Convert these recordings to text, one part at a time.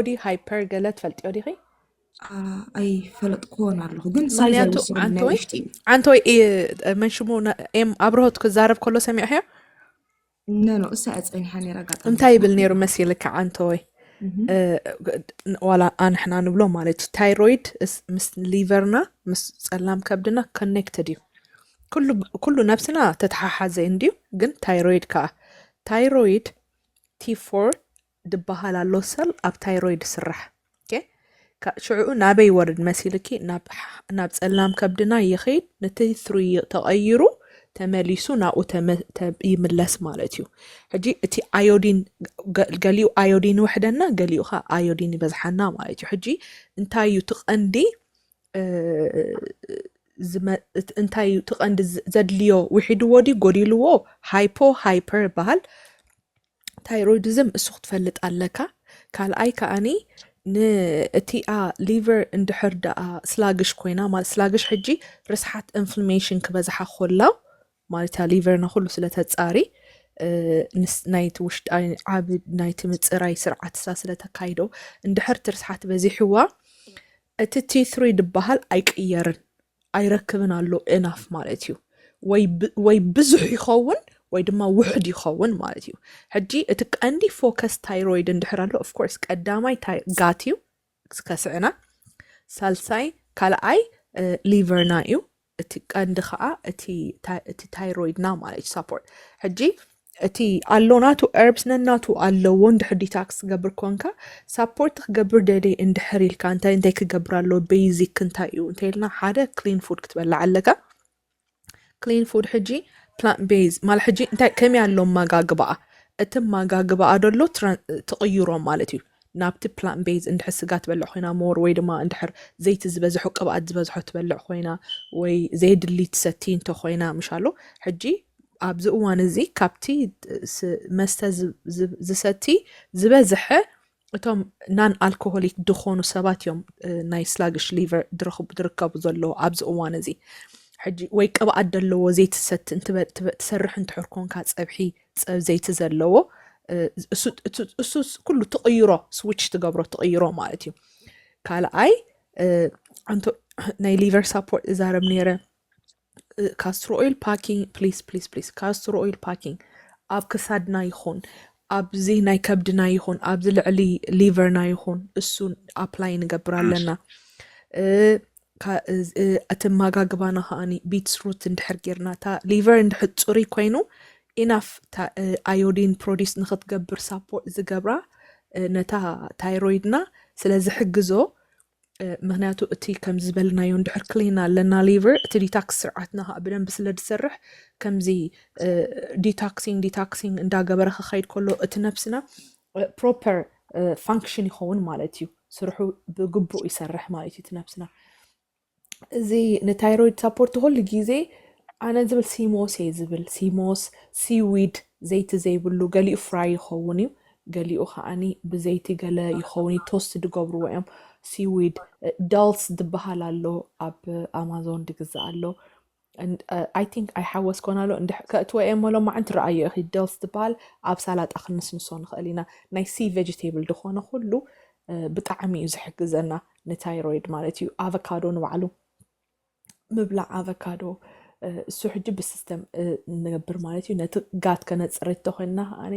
ቦዲ ሃይፐር ገለ ትፈልጥዮ ዲኺ? ኣይፈለጥክዎን ኣለኹ ግን ምክንያቱ ዓንተወይ ዓንተወይ መን ሽሙ ኤም ኣብርሆት ክዛረብ ከሎ ሰሚዕሕዮ ነኖ እሳ እያ ፀኒሓ ነራ ጋጣ እንታይ ይብል ነይሩ መሲልካ ዓንተወይ ዋላ ኣንሕና ንብሎ ማለት እዩ ታይሮይድ ምስ ሊቨርና ምስ ፀላም ከብድና ኮኔክትድ እዩ ኩሉ ነብስና ተተሓሓዘ እንድዩ ግን ታይሮይድ ከዓ ታይሮይድ ቲ ፎር ድባሃል ኣሎ ሰል ኣብ ታይሮይድ ስራሕ ኦኬ ሽዑኡ ናበይ ይወርድ መሲልኪ ናብ ጸላም ከብድና ይኸይድ ነቲ ትሪ ተቐይሩ ተመሊሱ ናብኡ ይምለስ ማለት እዩ ሕጂ እቲ ኣዮዲን ገሊኡ ኣዮዲን ይውሕደና ገሊኡ ኸ ኣዮዲን ይበዝሓና ማለት እዩ ሕጂ እንታይ እዩ ትቐንዲ እንታይ እዩ ትቐንዲ ዘድልዮ ውሒድዎ ድዩ ጎዲልዎ ሃይፖ ሃይፐር ይበሃል ታይሮይድዝም እሱ ክትፈልጥ ኣለካ ካልኣይ ከኣኒ ንእቲኣ ሊቨር እንድሕር ደኣ ስላግሽ ኮይና ማለት ስላግሽ ሕጂ ርስሓት ኢንፍላሜሽን ክበዝሓ ኮላ ማለት እያ ሊቨርና ኩሉ ስለተጻሪ ናይቲ ውሽጢ ዓብ ናይቲ ምፅራይ ስርዓት እሳ ስለተካይዶ እንድሕር ትርስሓት በዚሕዋ እቲ ቲትሪ ድበሃል ኣይቅየርን ኣይረክብን ኣሎ ኤናፍ ማለት እዩ ወይ ብዙሕ ይኸውን ወይ ድማ ውሕድ ይኸውን ማለት እዩ ሕጂ እቲ ቀንዲ ፎከስ ታይሮይድ እንድሕር ኣሎ ኦፍኮርስ ቀዳማይ ጋት እዩ ከስዕና ሳልሳይ ካልኣይ ሊቨርና እዩ እቲ ቀንዲ ከዓ እቲ ታይሮይድና ማለት እዩ ሳፖርት ሕጂ እቲ ኣሎ ናቱ እርብስ ነናቱ ኣለዎ እንድሕር ዲታክስ ትገብር ኮንካ ሳፖርት ክገብር ደልየ እንድሕር ኢልካ እንታይ እንታይ ክገብር ኣለዎ ቤዚክ እንታይ እዩ እንተይልና ሓደ ክሊን ፉድ ክትበላዕ ኣለካ ክሊን ፉድ ሕጂ ፕላንት ቤዝ ማለት ሕጂ እንታይ ከመይ ኣሎ ማጋግባኣ እቲ ማጋግባኣ ደሎ ትቕይሮ ማለት እዩ ናብቲ ፕላንት ቤዝ እንድሕር ስጋ ትበልዕ ኮይና ሞር ወይ ድማ እንድሕር ዘይቲ ዝበዝሖ ቅብኣት ዝበዝሖ ትበልዕ ኮይና ወይ ዘየድሊ ትሰቲ እንተ ኮይና ምሻሎ ሕጂ ኣብዚ እዋን እዚ ካብቲ መስተ ዝሰቲ ዝበዝሐ እቶም ናን ኣልኮሆሊክ ድኾኑ ሰባት እዮም ናይ ስላግሽ ሊቨር ድርከቡ ዘለዎ ኣብዚ እዋን እዚ ሕጂ ወይ ቅብኣት ደለዎ ዘይትሰቲ ትሰርሕ እንትሕር ኮንካ ፀብሒ ጸብ ዘይቲ ዘለዎ እሱ ኩሉ ትቕይሮ ስዊች ትገብሮ ትቕይሮ ማለት እዩ ካልኣይ ኣንቶ ናይ ሊቨር ሳፖርት እዛረብ ነይረ ካስትሮ ኦይል ፓኪንግ ፕሊስ ፕሊስ ፕሊስ ካስትሮ ኦይል ፓኪንግ ኣብ ክሳድና ይኹን ኣብዚ ናይ ከብድና ይኹን ኣብዚ ልዕሊ ሊቨርና ይኹን እሱ ኣፕላይ ንገብር ኣለና ኣተማጋግባና ከኣ ቢትስ ሩት እንድሕር ጌርና እታ ሊቨር እንድሕር ፅሩይ ኮይኑ ኢናፍ እታ ኣዮዲን ፕሮዲስ ንክትገብር ሳፖርት ዝገብራ ነታ ታይሮይድና ስለ ዝሕግዞ ምክንያቱ እቲ ከምዚ ዝበልናዮ እንድሕር ክሊን ኣለና ሊቨር እቲ ዲታክስ ስርዓትና ከዓ ብደንብ ስለ ዝሰርሕ ከምዚ ዲታክሲንግ ዲታክሲንግ እንዳገበረ ክኸይድ ከሎ እቲ ነብስና ፕሮፐር ፋንክሽን ይኸውን ማለት እዩ ስርሑ ብግቡእ ይሰርሕ ማለት እዩ ትነብስና እዚ ንታይሮይድ ሳፖርት ኩሉ ግዜ ኣነ ዝብል ሲሞስ እየ ዝብል ሲሞስ ሲዊድ ዘይቲ ዘይብሉ ገሊኡ ፍራይ ይኸውን እዩ ገሊኡ ከዓኒ ብዘይቲ ገለ ይኸውን እዩ ቶስት ድገብርዎ እዮም ሲዊድ ዳልስ ዝበሃል ኣሎ ኣብ ኣማዞን ድግዛእ ኣሎ ኣይ ቲንክ ኣይሓወስኮን ኣሎ እንድሕ ከእትወ እየ እሞ ሎማዕንቲ ረኣዮ ኢኺ ደልስ ትበሃል ኣብ ሳላጣ ክንስንሶ ንኽእል ኢና ናይ ሲ ቬጅቴብል ዝኾነ ኩሉ ብጣዕሚ እዩ ዝሕግዘና ንታይሮይድ ማለት እዩ ኣቨካዶ ንባዕሉ ምብላዕ ኣቨካዶ እሱ ሕጂ ብሲስተም ንገብር ማለት እዩ ነቲ ጋት ከነፅርት ተኮይንና ከዓኒ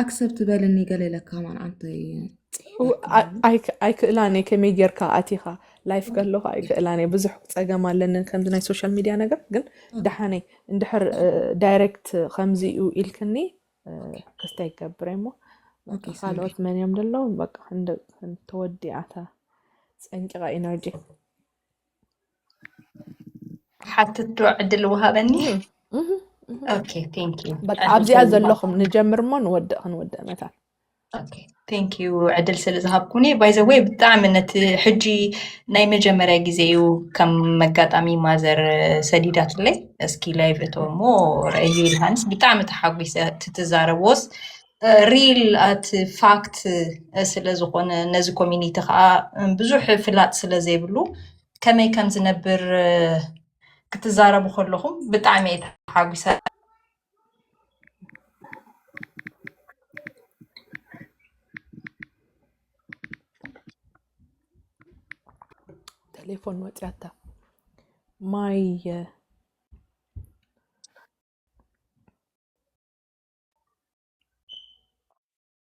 ኣክሰብት በልኒ ገለ ኢለካ ማን ኣንተይ ኣይክእላን እየ ከመይ ጌርካ ኣቲኻ ላይፍ ከለኹ ኣይክእላን እየ ብዙሕ ፀገም ኣለኒ ከምዚ ናይ ሶሻል ሚድያ ነገር ግን ደሓነ እንድሕር ዳይሬክት ከምዚ እዩ ኢልክኒ ክስተ ይገብረ እሞ ካልኦት መን እዮም ደለዉ በቃ ተወዲኣታ ፀንቂቓ ኢነርጂ ሓትቶ ዕድል ወሃበኒ ኣብዚኣ ዘለኹም ንጀምር እሞ ንወድእ ክንወድእ መታን ቴንክ ዩ ዕድል ስለ ዝሃብኩኒ ባይዘወይ ብጣዕሚ ነቲ ሕጂ ናይ መጀመርያ ግዜ እዩ ከም መጋጣሚ ማዘር ሰዲዳትለይ እስኪ ላይቭ እቶ እሞ ረአዩ ኢልሃንስ ብጣዕሚ ተሓጒሰ ትትዛረቦስ ሪል ኣት ፋክት ስለዝኾነ ነዚ ኮሚኒቲ ከዓ ብዙሕ ፍላጥ ስለዘይብሉ ከመይ ከም ዝነብር ክትዛረቡ ከለኹም ብጣዕሚ እየ ተሓጒሰ። ቴሌፎን ወፂያታ ማይ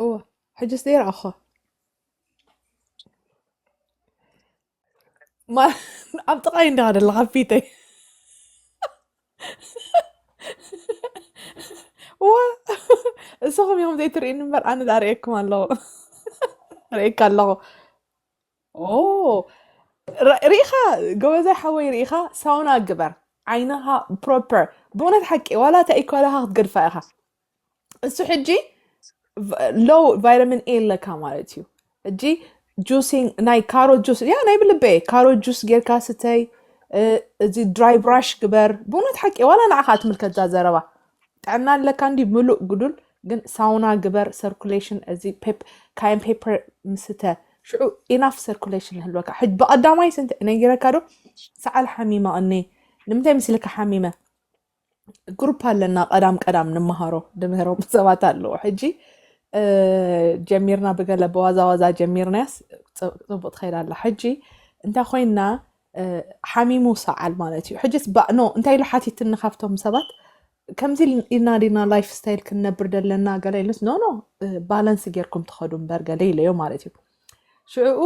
እወ ሕጅስ ደይ ረኣኹኻ ማ ኣብ ጥቓይ እንዳ ደለኻ ኣብ ፊተይ እወ እሰኹም ኢኹም ዘይትርእዩኒ እምበር ኣነ ዳ ርእየኩም ኣለኹ ርእየካ ኣለኹ ኦ ር- ርኢኻ ጎበዛይ ሓወይ ርኢኻ ሳውና ግበር ዓይንኻ ፕሮፐር ብእውነት ሓቂ ዋላ እታ ኢኳላኻ ክትገድፋ ኢኻ እሱ ሕጂ ሎ ቫይታሚን ኤ ኣለካ ማለት እዩ እጂ ጁሲንግ ናይ ካሮ ጁስ ያ ናይ ብልበ ካሮ ጁስ ጌርካ ስተይ እዚ ድራይ ብራሽ ግበር ብእውነት ሓቂ ዋላ ንዓኻ ትምልከትዛ ዘረባ ጥዕና ኣለካ እንዲ ምሉእ ግዱል ግን ሳውና ግበር ሰርኩሌሽን እዚ ካይን ፔፐር ምስተ ሽዑ ኢናፍ ሰርኩሌሽን ህልወካ ሕጅ ብቐዳማይ ስንት ነጊረካ ዶ ሰዓል ሓሚመ እኒ ንምንታይ ምስልካ ሓሚመ ግሩፕ ኣለና ቀዳም ቀዳም ንመሃሮ ንምህሮም ሰባት ኣለዎ ሕጂ ጀሚርና ብገለ በዋዛ ዋዛ ጀሚርናያስ ፅቡቅ ትኸይድ ኣላ ሕጂ እንታይ ኮይና ሓሚሙ ሰዓል ማለት እዩ ሕጂስ ባእኖ እንታይ ኢሉ ሓቲትኒ ካብቶም ሰባት ከምዚ ኢልና ዲና ላይፍ ስታይል ክንነብር ዘለና ገለ ኢሉስ ኖኖ ባላንስ ጌርኩም ትኸዱ እምበር ገለ ኢለዮ ማለት እዩ ሽዕኡ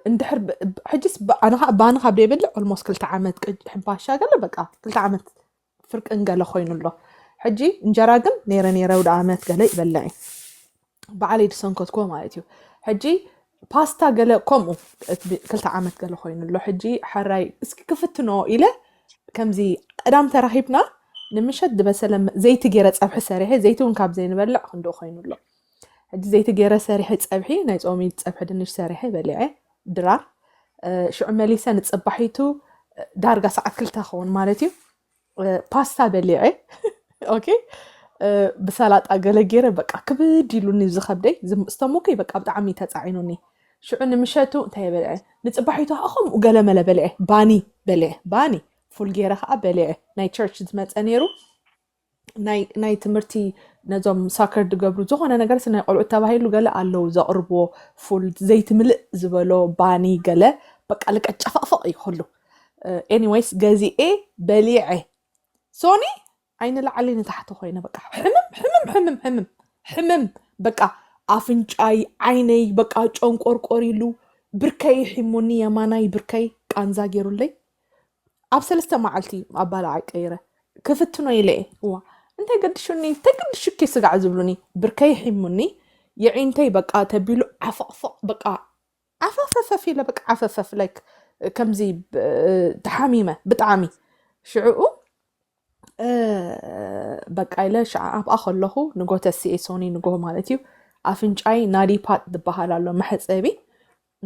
እንድሕር ብ- ብ- ሕጅስ ብ- ኣነ ከዓ ባኒ ካብ ዘይበልዕ ኦልሞስት ክልተ ዓመት ቅጅ ሕንፋሻ ገለ በቃ ክልተ ዓመት ፍርቅን ገለ ኮይኑ ኣሎ ሕጂ እንጀራ ግን ነይረ ነይረ ወደ ዓመት ገለ ይበልዕ እዩ በዓለይ ዝሰንከትኩዎ ማለት እዩ ሕጂ ፓስታ ገለ ከምኡ እቲ ብ- ክልተ ዓመት ገለ ኮይኑ ኣሎ ሕጂ ሕራይ እስኪ ክፍትኖ ኢለ ከምዚ ቀዳም ተራኺብና ንምሸት ዝበሰለ መ- ዘይቲ ገይረ ፀብሒ ሰሪሐ ዘይቲ እውን ካብ ዘይንበልዕ ክንደኡ ኮይኑ ኣሎ ሕጂ ዘይቲ ገይረ ሰሪሐ ፀብሒ ናይ ፆሚ ፀብሒ ድንሽ ሰሪሐ በሊዐ ድራር ሽዑ መሊሰ ንፅባሒቱ ዳርጋ ሰዓት ክልተ ኸውን ማለት እዩ ፓስታ በሊዐ ኦኬ ብሰላጣ ገለ ገይረ በቃ ክብድ ኢሉኒ ዝኸብደይ ዝተሞከይ በቃ ብጣዕሚ ተፃዒኑኒ ሽዑ ንምሸቱ እንታይ በልዐ ንፅባሒቱ ከዓ ከምኡ ገለ መለ በልዐ ባኒ በልዐ ባኒ ፉል ገይረ ከዓ በልዐ ናይ ቸርች ዝመፀ ነይሩ ናይ ትምህርቲ ነዞም ሳከር ድገብሩ ዝኾነ ነገር ናይ ቆልዑት ተባሂሉ ገለ ኣለው ዘቕርብዎ ፉል ዘይትምልእ ዝበሎ ባኒ ገለ በቃ ልቀ ጨፈቕፈቕ እዩ ኩሉ ኤኒዌይስ ገዚኤ በሊዐ ሶኒ ዓይኒ ላዕሊ ንታሕቲ ኮይነ በቃ ሕምም ሕምም ሕምም ሕምም ሕምም በቃ ኣፍንጫይ ዓይነይ በቃ ጨንቆርቆር ኢሉ ብርከይ ሒሙኒ የማናይ ብርከይ ቃንዛ ገይሩለይ ኣብ ሰለስተ መዓልቲ ኣባላዓይ ቀይረ ክፍትኖ ኢለ እየ እዋ እንታይ ገድሹኒ እንታይ ገድሹኪ ስጋዕ ዝብሉኒ ብርከይ ሒሙኒ የዒንተይ በቃ ተቢሉ ዓፈቕፈቕ በቃ ዓፈፈፈፍ ኢለ በቃ ዓፈፈፍ ላይክ ከምዚ ተሓሚመ ብጣዕሚ ሽዕኡ በቃ ኢለ ሽዓ ኣብኣ ከለኹ ንጎ ተስኤ ሶኒ ንጎ ማለት እዩ ኣፍንጫይ ናዲፓት ዝበሃል ኣሎ መሕፀቢ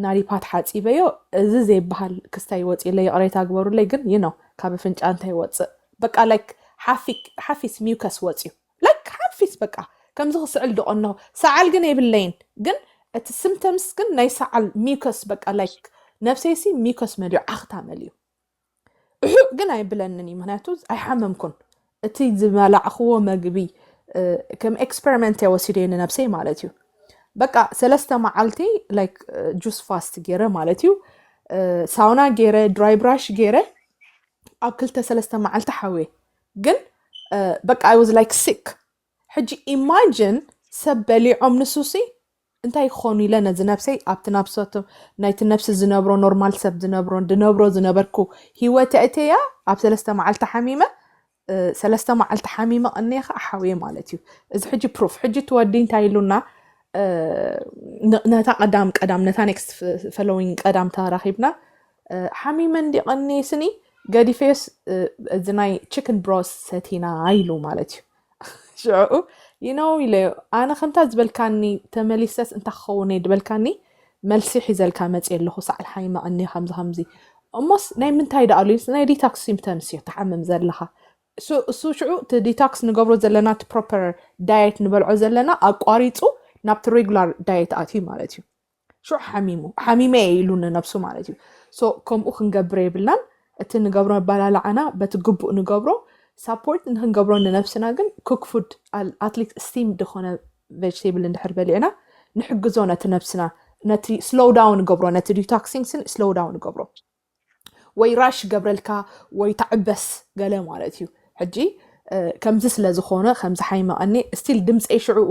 ናሪፓት ሓፂበዮ እዚ ዘይበሃል ክስታይ ወፂእለይ ይቅሬታ ግበሩለይ ግን you know ካብ ኣፍንጫ እንታይ ይወፅእ በቃ like ሓፊ ሓፊስ mucus ወፅዩ like ሓፊስ በቃ ከምዚ ክስዕል ድቆ እነሆ ሰዓል ግን የብለይን ግን እቲ symptoms ግን ናይ ሰዓል mucus በቃ like ነብሰይሲ mucus መሊኡ ዓኽታ መሊኡ እሑእ ግን ኣይብለንን እዩ ምክንያቱ ኣይሓመምኩን እቲ ዝበላዕክዎ መግቢ ከም ኤክስፐሪመንት እየ ወሲደ ንነብሰይ ማለት እዩ በቃ ሰለስተ መዓልቲ ላይክ ጁስ ፋስት ገይረ ማለት እዩ ሳውና ገይረ ድራይ ብራሽ ገይረ ኣብ ክልተ ሰለስተ መዓልቲ ሓውየ ግን በቃ ኣይ ዋዝ ላይክ ሲክ ሕጂ ኢማጅን ሰብ በሊዖም ንሱሲ እንታይ ክኾኑ ኢለ ነዚ ነብሰይ ኣብቲ ናብሰቱ ናይቲ ነብሲ ዝነብሮ ኖርማል ሰብ ዝነብሮ ድነብሮ ዝነበርኩ ሂወት ኣእተያ ኣብ ሰለስተ መዓልቲ ሓሚመ ሰለስተ መዓልቲ ሓሚመ ቀኒየ ከዓ ሓውየ ማለት እዩ እዚ ሕጂ ፕሩፍ ሕጂ ትወዲ እንታይ ኢሉና ነታ ቀዳም ቀዳም ነታ ኔክስት ፈሎዊንግ ቀዳም ተራኺብና ሓሚመ እንዲ ቀኒየ ስኒ ገዲፈዮስ እዚ ናይ ቺክን ብሮስ ሰቲና ኢሉ ማለት እዩ ሽዕኡ ይነው ኢለዮ ኣነ ከምታ ዝበልካኒ ተመሊሰስ እንታ ክኸውን እየ ድበልካኒ መልሲ ሒዘልካ መፅየ ኣለኹ ሳዕል ሓይመቐኒ ከምዚ ከምዚ እሞስ ናይ ምንታይ ዳኣ ኣሉ ናይ ዲታክስ ሲምፕተምስ እዮ ትሓምም ዘለኻ እሱ ሽዑ እቲ ዲታክስ ንገብሮ ዘለና እቲ ፕሮፐር ዳየት ንበልዖ ዘለና ኣቋሪፁ ናብቲ ሬጉላር ዳየት ኣትዩ ማለት እዩ ሽዑ ሓሚሙ ሓሚመ እየ ኢሉ ንነብሱ ማለት እዩ ሶ ከምኡ ክንገብር የብልናን እቲ ንገብሮ ኣባላልዓና በቲ ግቡእ ንገብሮ ሳፖርት ንክንገብሮ ንነብስና ግን ኩክ ፉድ ኣትሊት ስቲም ድኾነ ቨጅቴብል እንድሕር በሊዕና ንሕግዞ ነቲ ነብስና ነቲ ስሎው ዳውን ገብሮ ነቲ ዲቶክሲንግስን ስሎው ዳውን ገብሮ ወይ ራሽ ገብረልካ ወይ ተዕበስ ገለ ማለት እዩ ሕጂ ከምዚ ስለ ዝኾነ ከምዚ ሓይመቐኒ ስቲል ድምፀይ ሽዕኡ